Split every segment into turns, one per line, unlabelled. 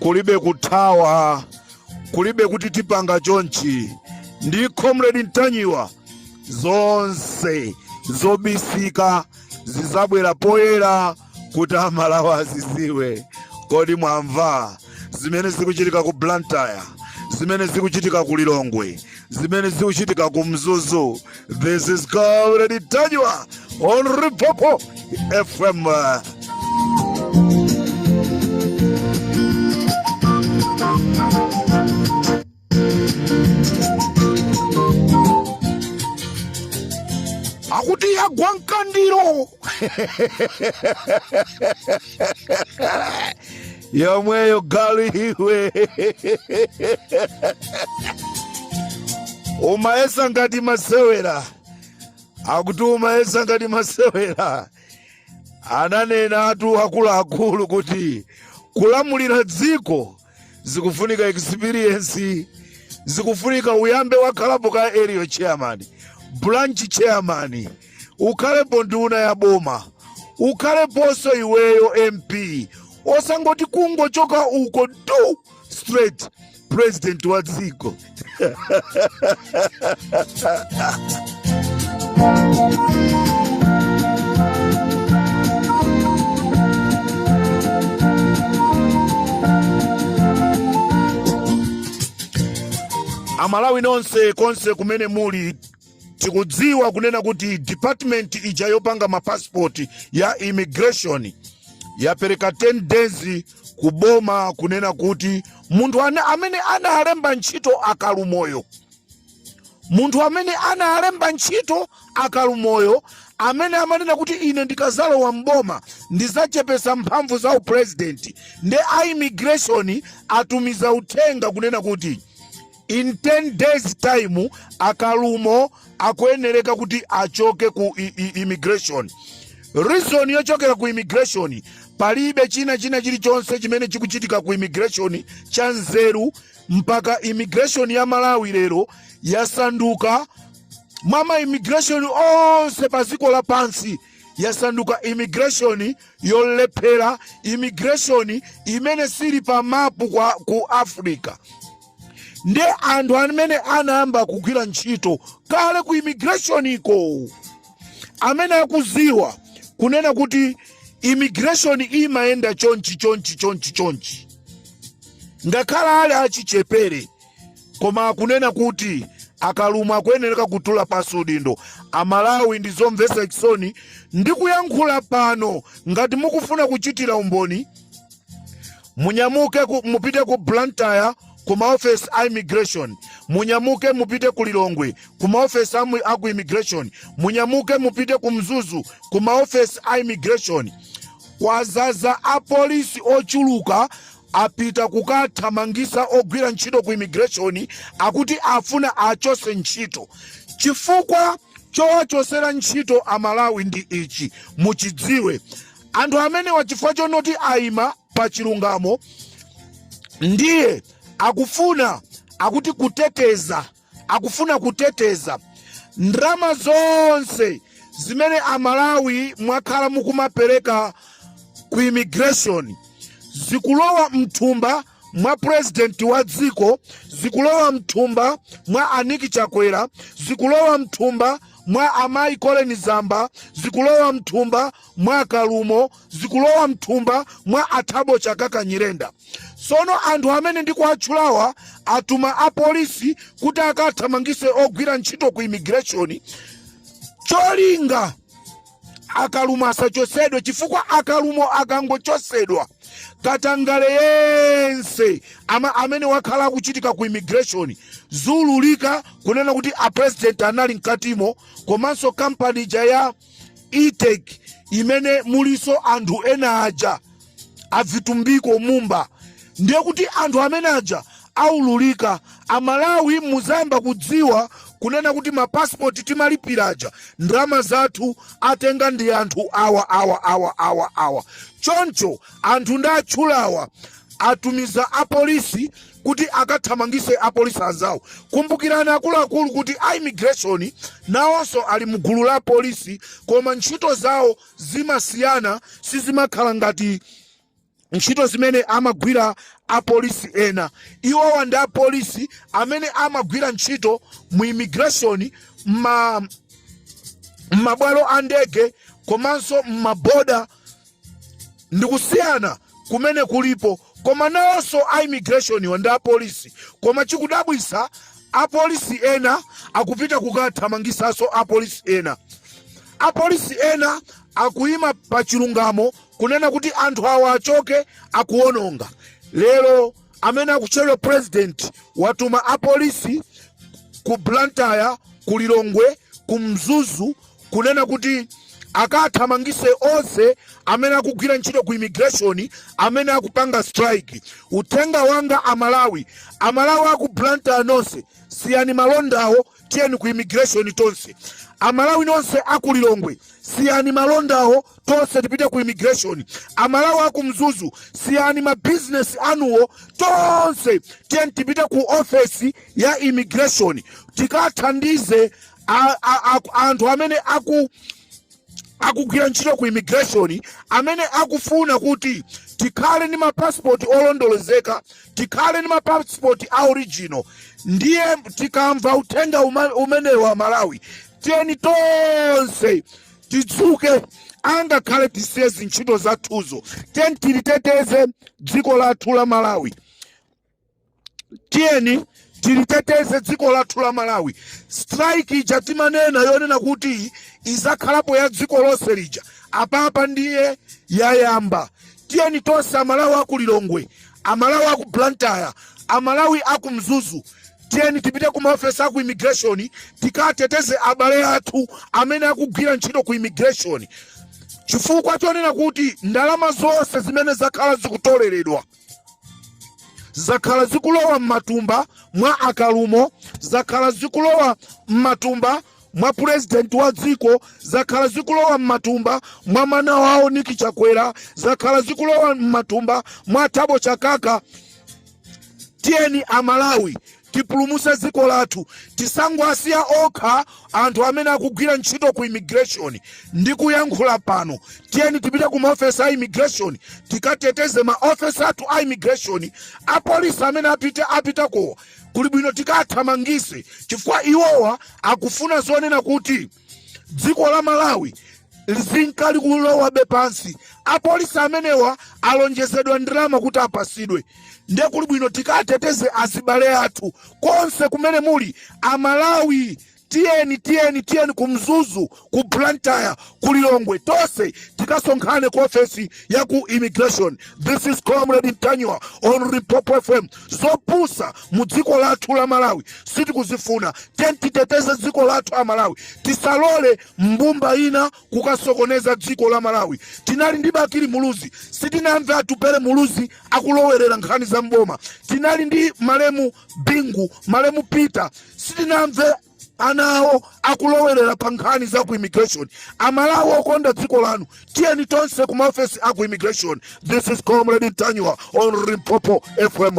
kulibe kuthawa kulibe kuti tipanga chonchi ndi comrade ntanyiwa zonse zobisika zizabwera poyera kuti amalawi aziziwe kodi mwamva zimene zikuchitika ku blantyre zimene zikuchitika ku lilongwe zimene zikuchitika ku mzuzu this is comrade ntanyiwa on limpopo fm akuti yagwa mkandiro yomweyo galu iwe umayesa ngati masewera akuti umayesa ngati masewera ananenatu akuluakulu kuti kulamulira dziko zikufunika experience zikufunika uyambe wakhalapo ka area chairman branch chairman ukhalepo nduna ya boma ukhaleponso iweyo mp osangoti kungochoka uko do straight president wa dziko amalawi nonse konse kumene muli tikudziwa kunena kuti department ija yopanga mapasipoti ya immigration yapereka 10 days kuboma kunena kuti munthu ane- amene analemba ntchito akalumoyo munthu amene analemba ntchito akalumoyo amene amanena kuti ine ndikazalowa mboma ndizachepesa mphamvu za upurezidenti nde a immigration atumiza uthenga kunena kuti in 10 days time akalumo akuyenereka kuti achoke ku i- i- immigration reason yochokera ku immigration palibe china china chilichonse chimene chikuchitika ku immigration cha nzeru mpaka immigration ya malawi lero yasanduka mwa ma immigration onse pa dziko lapansi yasanduka immigration yolephera immigration imene sili pa mapu ku africa nde anthu amene anayamba kugwira ntchito kale ku immigrationiko amene akuziwa kunena kuti immigration imayenda chonchi chonchi chonchi chonchi ngakhale ali achichepere koma akunena kuti akalumo akuyenereka kutula pasi udindo amalawi ndi zomvetsa chisoni ndikuyankhula pano ngati mukufuna kuchitira umboni munyamuke ku, mupite ku blantyre ku maofesi a immigration munyamuke mupite ku lilongwe ku maofesi a mu- a ku immigration munyamuke mupite ku mzuzu ku maofesi a immigration kwazaza apolisi ochuluka apita kukathamangisa ogwira ntchito ku immigration akuti afuna achotse ntchito chifukwa chowachotsera ntchito amalawi ndi ichi muchidziwe Anthu amenewa chifukwa chonoti aima pa chilungamo ndiye akufuna akuti kuteteza akufuna kuteteza ndalama zonse zimene amalawi mwakhala mukumapereka ku immigration zikulowa mthumba mwa purezidenti wa dziko zikulowa mthumba mwa aniki chakwera zikulowa mthumba mwa amayi koleni zamba zikulowa mthumba mwa akalumo zikulowa mthumba mwa athabo chakaka nyirenda tsono anthu amene ndikuwatchulawa atuma apolisi kuti akathamangise ogwira ntchito ku immigration cholinga akalumo asachotsedwe chifukwa akalumo akangochotsedwa katangale yense ama, amene wakhala akuchitika ku immigration ziululika kunena kuti a president anali mkatimo komanso kampani ija ya etec imene mulinso anthu ena aja avitumbiko mumba ndiye kuti anthu amene aja aululika amalawi muzayamba kudziwa kunena kuti mapasipoti timalipira aja ndalama zathu atenga ndi anthu awa awa awa awa awa choncho anthu ndatchulawa atumiza apolisi kuti akathamangise apolisi anzawo kumbukirani akuluakulu kuti a immigration nawonso ali mgulu la polisi koma ntchito zawo zimasiyana sizimakhala ngati ntchito zimene amagwira apolisi ena iwowa ndi apolisi amene amagwira ntchito mu immigration ma m'mabwalo a ndege komanso m'maboda ndi kusiyana kumene kulipo koma nawonso a immigrationiwa ndi apolisi koma chikudabwisa apolisi ena akupita kukathamangisanso apolisi ena Apolisi ena akuima pa chilungamo kunena kuti anthu awa achoke akuononga. Lero amene akutchedwa president watuma apolisi ku Blantyre, ku Lilongwe, ku Mzuzu kunena kuti akathamangise onse amene akugwira ntchito ku immigration amene akupanga strike. Uthenga wanga a Malawi, a Malawi aku Blantyre nonse siyani malondawo. tiyeni ku immigration tonse amalawi nonse aku lilongwe siyani malondawo tonse tipite ku immigration amalawi aku mzuzu siyani mabizinesi anuwo tonse tiyeni tipite ku ofesi ya immigration tikathandize a- a- a- anthu amene aku akugwira ntchito ku immigration amene akufuna kuti tikhale ndi mapasipoti olondolezeka tikhale ndi mapasipoti a original ndiye tikamva uthenga uma- umenewu amalawi tiyeni tonse tidzuke angakhale tisiye zintchito zathuzo tiyeni tiliteteze dziko lathu la malawi tiyeni tiliteteze dziko lathu la malawi strike ija timanena yonena kuti izakhalapo ya dziko lonse lija apapa ndiye yayamba tiyeni tonse amalawi aku lilongwe amalawi aku blantyre amalawi aku mzuzu tiyeni tipite ku maofesi aku immigration tikateteze abale athu amene akugwira ntchito ku immigration chifukwa chonena kuti ndalama zonse zimene zakhala zikutoleredwa zakhala zikulowa m'matumba mwa akalumo zakhala zikulowa m'matumba mwa purezidenti wa dziko zakhala zikulowa m'matumba mwa mwana wawo niki chakwera zakhala zikulowa m'matumba mwa thabo chakaka tiyeni amalawi tipulumuse dziko lathu tisangwasiya okha anthu amene akugwira ntchito ku immigration ndi kuyankhula pano tiyeni tipite ku maofesi a immigration tikateteze maofesi athu a immigration apolisi amene apite apitakowa kuli bwino tikathamangise chifukwa iwowa akufuna zonena kuti dziko la malawi lizinka likulowabe pansi apolisi amenewa alonjezedwa ndalama kuti apasidwe nde kuli bwino tikateteze azibale athu konse kumene muli amalawi tiyeni tiyeni tiyeni ku mzuzu ku blantyre ku lilongwe tonse tikasonkhane ku ofesi ya ku immigration this is comrade ntanyiwa on limpopo fm zopusa mu dziko lathu la Malawi sitikuzifuna. Tiyeni titeteze dziko lathu a Malawi, tisalole mbumba ina kukasokoneza dziko la Malawi. Tinali ndi Bakili Muluzi, sitinamve Atupele Muluzi akulowerera nkhani za mboma. Tinali ndi malemu Bingu, malemu Peter, sitinamve ana awo akulowerera pa nkhani za ku immigration amalawi okonda dziko lanu tiyeni tonse ku maofesi a ku immigration this is comrade ntanyiwa on limpopo fm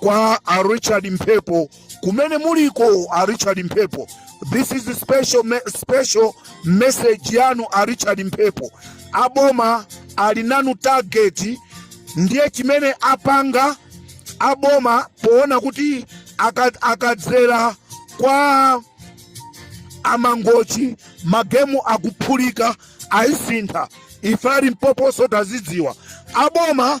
kwa a Richard Mphepo kumene muliko a Richard Mphepo this is a special message yanu a Richard Mphepo aboma ali nanu target ndiye chimene apanga aboma poona kuti aka- akadzera kwa amangochi magemu akuphulika ayisintha ife ali mpoponso tazidziwa aboma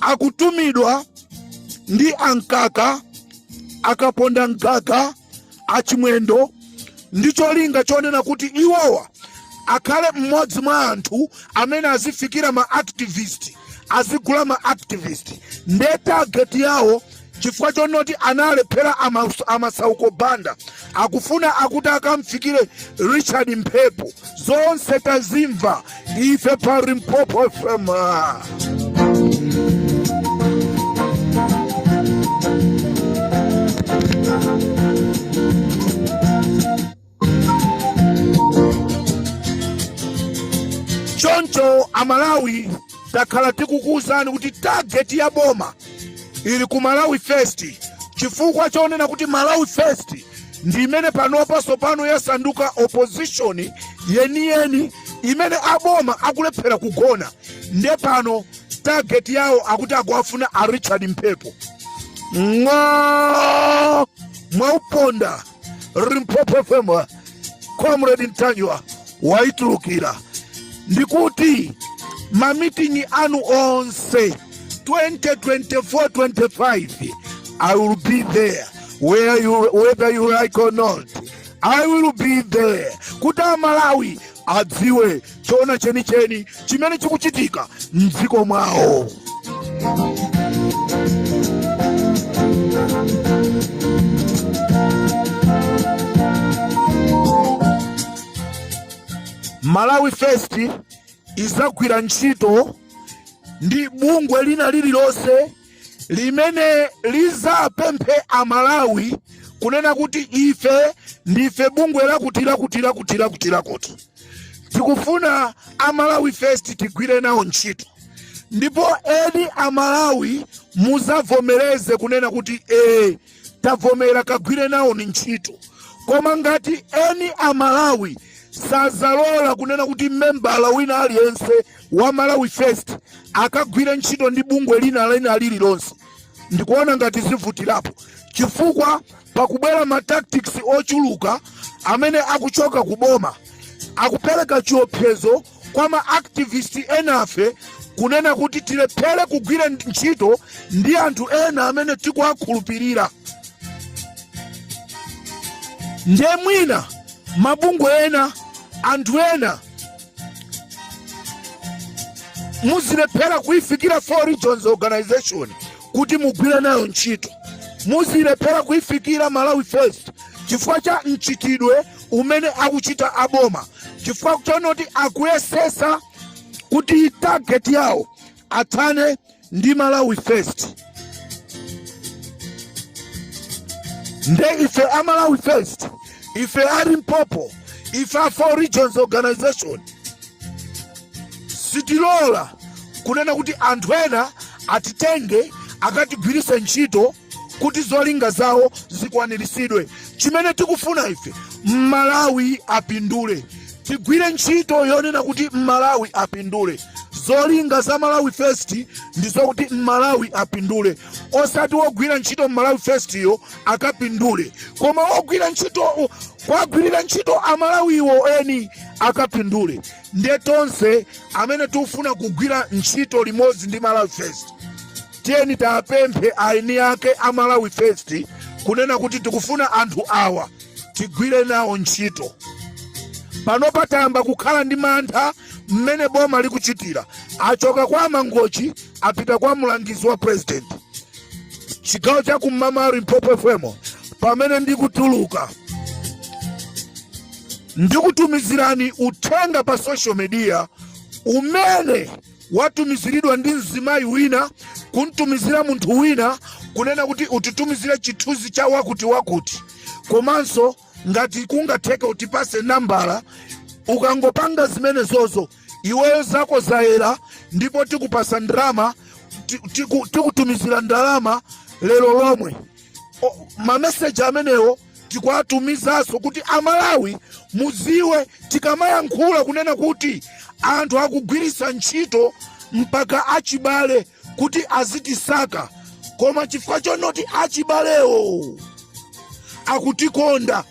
akutumidwa ndi a Mkaka akaponda mgaga a Chimwendo ndi cholinga chonena kuti iwowa akhale mmodzi mwa anthu amene azifikira ma activist azigula ma activist nde target yawo chifukwa chonoti analephera a Masauko Banda akufuna akuti akamfikire Richard Mphepo zonse tazimva ife pa Limpopo FM choncho amalawi takhala tikukuwuzani kuti tageti ya boma ili ku Malawi First chifukwa chonena kuti Malawi First ndi imene panopa tsopano yasanduka opposition yeniyeni imene aboma akulephera kugona nde pano target yawo akuti akuwafuna a Richard Mphepo ng'o mwauponda Limpopo FM Comrade Ntanyiwa waitulukira ndikuti mamitingi anu onse 2024-25 i will be there whether you like or not i will be there kuti amalawi adziwe choona chenicheni chimene chikuchitika m'dziko mwawo Malawi First idzagwira ntchito ndi bungwe lina lililonse limene lizapemphe amalawi kunena kuti ife ndife bungwe lakuti lakuti lakuti lakuti lakuti tikufuna a Malawi First tigwire nawo ntchito ndipo eni amalawi muzavomereze kunena kuti ee tavomera kagwire nawoni ntchito koma ngati eni amalawi sazalola kunena kuti membala wina aliyense wa Malawi First akagwire ntchito ndi bungwe lina lina lililonse ndikuona ngati zivutirapo chifukwa pakubwera ma tactics ochuluka amene akuchoka ku boma akupereka chiopsezo kwa ma activist enafe kunena kuti tilephere kugwira ntchito ndi anthu ena amene tikuwakhulupirira nde mwina mabungwe ena anthu ena muzilephera kuifikira four regions organization kuti mugwire nayo ntchito muzilephera kuifikira malawi first chifukwa cha mchitidwe umene akuchita aboma chifukwa choonoti akuyesesa kuti target yawo athane ndi malawi first nde ife a malawi first ife a limpopo ife a four regions organization sitilola kunena kuti anthu ena atitenge akatigwirise ntchito kuti zolinga zawo zikwaniritsidwe chimene tikufuna ife mmalawi apindule tigwire ntchito yonena kuti mmalawi apindule zolinga za malawi first ndi zokuti mmalawi apindule osati wogwira ntchito mmalawi first yo akapindule koma wogwira ntchito kuwagwirira ntchito amalawiwo eni akapindule ndiye tonse amene tikufuna kugwira ntchito limodzi ndi malawi first tiyeni tapemphe aini ake a malawi first kunena kuti tikufuna anthu awa tigwire nawo ntchito panopa tayamba kukhala ndi mantha mmene boma likuchitira achoka kwa mangochi apita kwa mlangizi wa president chigawo cha kum'mawa limpopo fm pamene ndikutuluka ndikutumizirani uthenga pa social media umene watumiziridwa ndi mzimayi wina kumtumizira munthu wina kunena kuti utitumizire chithunzi cha wakuti wakuti komanso ngati kungatheke utipase nambala ukangopanga zimenezozo iweyo zako zayera ndipo tikupasa ndalama ti- tiku- tikutumizira ndalama lero lomwe O- mameseji amenewo tikuwatumizaso kuti amalawi muziwe tikamayankhula kunena kuti anthu akugwirisa ntchito mpaka achibale kuti azitisaka koma chifukwa chonoti achibalewo akutikonda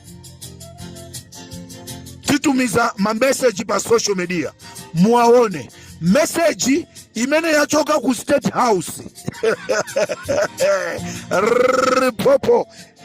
titumiza mameseji pa social media muwaone meseji imene yachoka ku state house limpopo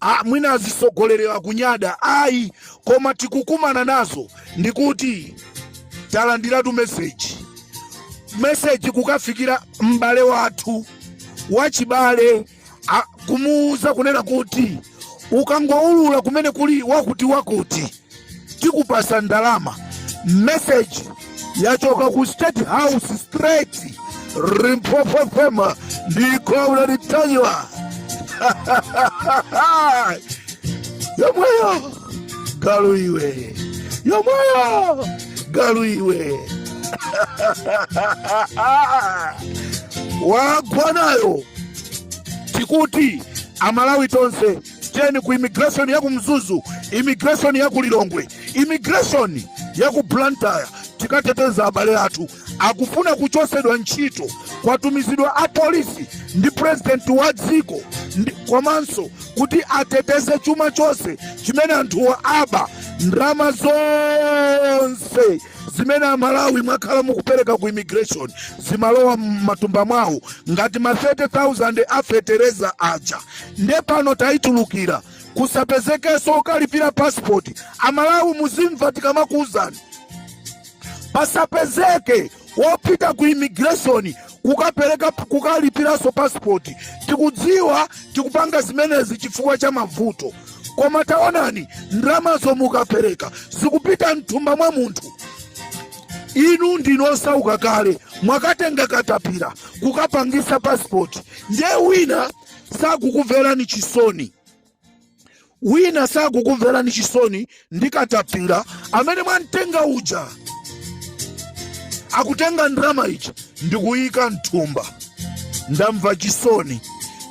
Ah, mwina azisogolelera kunyada ayi koma tikukumana nazo ndikuti talandiratu meseji meseji kukafikira m'bale wathu wachibale a- kumuwuza kunena kuti ukangoulula kumene kuli wakuti wakuti tikupasa ndalama message yachoka ku state house straight Limpopo fm ndikobula Ntanyiwa yomweyo galu iwe yomweyo galu iwe wagwa nayo tikuti amalawi tonse tiyeni ku immigration ya ku mzuzu immigration ya ku lilongwe immigration ya ku blantyre tikateteza abale athu akufuna kuchosedwa ntchito kwatumizidwa apolisi ndi president wa dziko komanso kuti ateteze chuma chonse chimene anthuwa aba ndalama zonse zimene amalawi mwakhala mukupereka ku immigration zimalowa m'matumba mwawo ngati ma 30000 a fetereza aja nde pano tayitulukira kusapezekenso okalipira pasipoti amalawi muzimva tikamakuwuzani pasapezeke wopita ku immigration kukapereka kukalipiranso pasipoti tikudziwa tikupanga zimenezi chifukwa cha mavuto koma taonani ndalama zomwe mukapereka zikupita mthumba mwa munthu inu ndinu osauka kale mwakatenga katapira kukapangisa pasipoti ndiye wina sakukumverani chisoni wina sakukumverani chisoni ndi katapira amene mwamtenga uja akutenga ndalama ija ndikuyika mthumba ndamva chisoni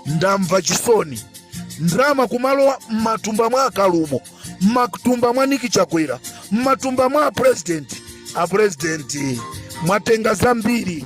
ndamva chisoni ndalama kumalowa m'matumba mwa a Kalumo m'matumba mwa Nick Chakwera m'matumba mwa apurezidenti apurezidenti mwatenga zambiri